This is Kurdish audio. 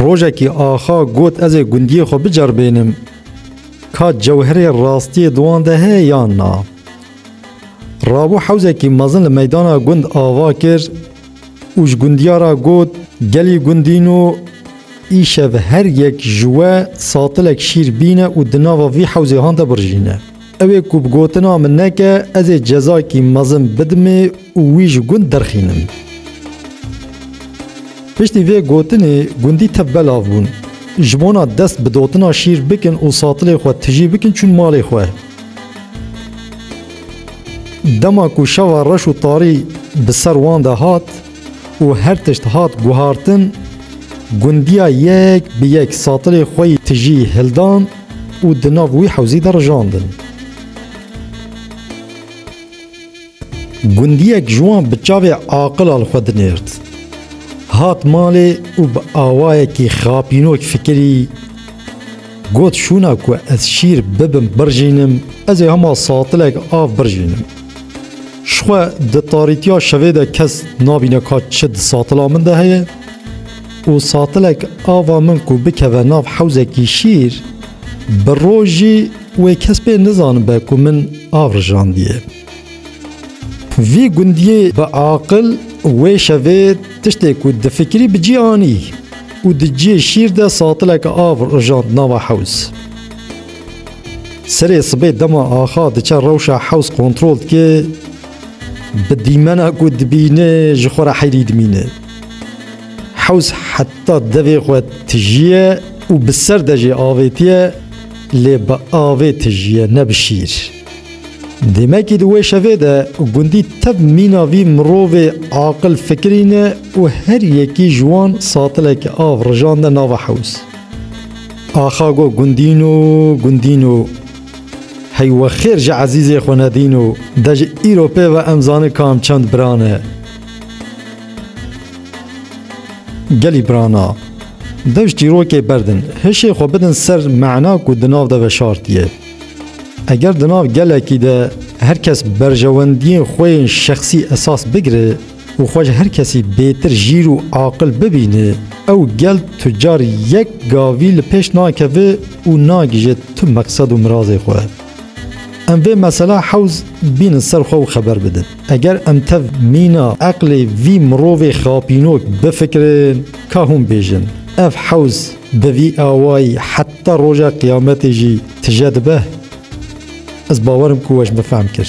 Rojekî axa got ez ê gundiyê xwe biceribênim. Ka cewherê rastiyê di wan de heye yan na? Rabû hewzekî mezin li meydana gund ava kir û ji gundiyara got gelî gundîn û îşev her yek ji we satilek şîr bîne û di nava vî hewzê han de birjîne. Ew ê ku bi gotina min neke ez ê cezayekî mezin bidimê û wî ji gund derxînim. Piştî vê gotinê gundî tev belav bûn. Ji bona dest bi dotina şîr bikin û satilê xwe tijî bikin çûn malê xwe. Dema ku şeva reş û tarî bi ser wan de hat, û her tişt hat guhartin, gundiya yek bi yek satilê xwe yî tijî hildan û di nav wî hewzî de rijandin. Gundiyek ji wan bi çavê aqila li xwe dinêrt. Hat malê û bi awayekî xapînok fikirî got, Şûna ku ez şîr bibim birjînim, ez ê hema satilek av birjînim. Jixwe di tarîtiya şevê de kes nabîne ka çi di satila min de heye û satilek ava min ku bikeve nav hewzekî şîr bi rojî wê kes pê nizanibe ku min av rijandiye. Vî gundiyê bi aqil wê şevê tiştê ku difikirî bi cî anî û di cihê şîr de satilek av rijand nava hewz. Serê sibê dema axa diçe rewşa hews kontrol dike bi dîmena ku dibîne ji xwe re heyrî dimîne. Hews heta devê xwe tijiye û bi ser de jê avêtiye lê bi avê tijiye ne bi şîr. Demekî di wê şevê de gundî tev mîna vî mirovê aqil fikirîne û her yekî ji wan satileke av rijande nava hews. Axa go gundîno gundîno Hey wexêr ji ezîzê xwe nedîno De ji îro pê ve em zani kam çend biran e Gelî birana dew ji çîrokê berdin hişê xwe bidin ser mena ku di nav de veşartiye Eger di nav gelekî de her kes berjewendiyên xwe yên şexsî esas bigire û xwe ji her kesî bêtir jîr û aqil bibînê, ew gel tu car yek gavî li pêş nakeve û nagije tu meqsed û mirazê xwe. Em vê mesela hewz bînin ser xwe û xeber bidin. Eger em tev mîna eqlê vî mirovê xapînok bifikirin, ka hûn bêjin, ev hewz bi vî awayî heta roja qiyametê jî tije dibe? Ez bawer im ku we ji min fehm kir.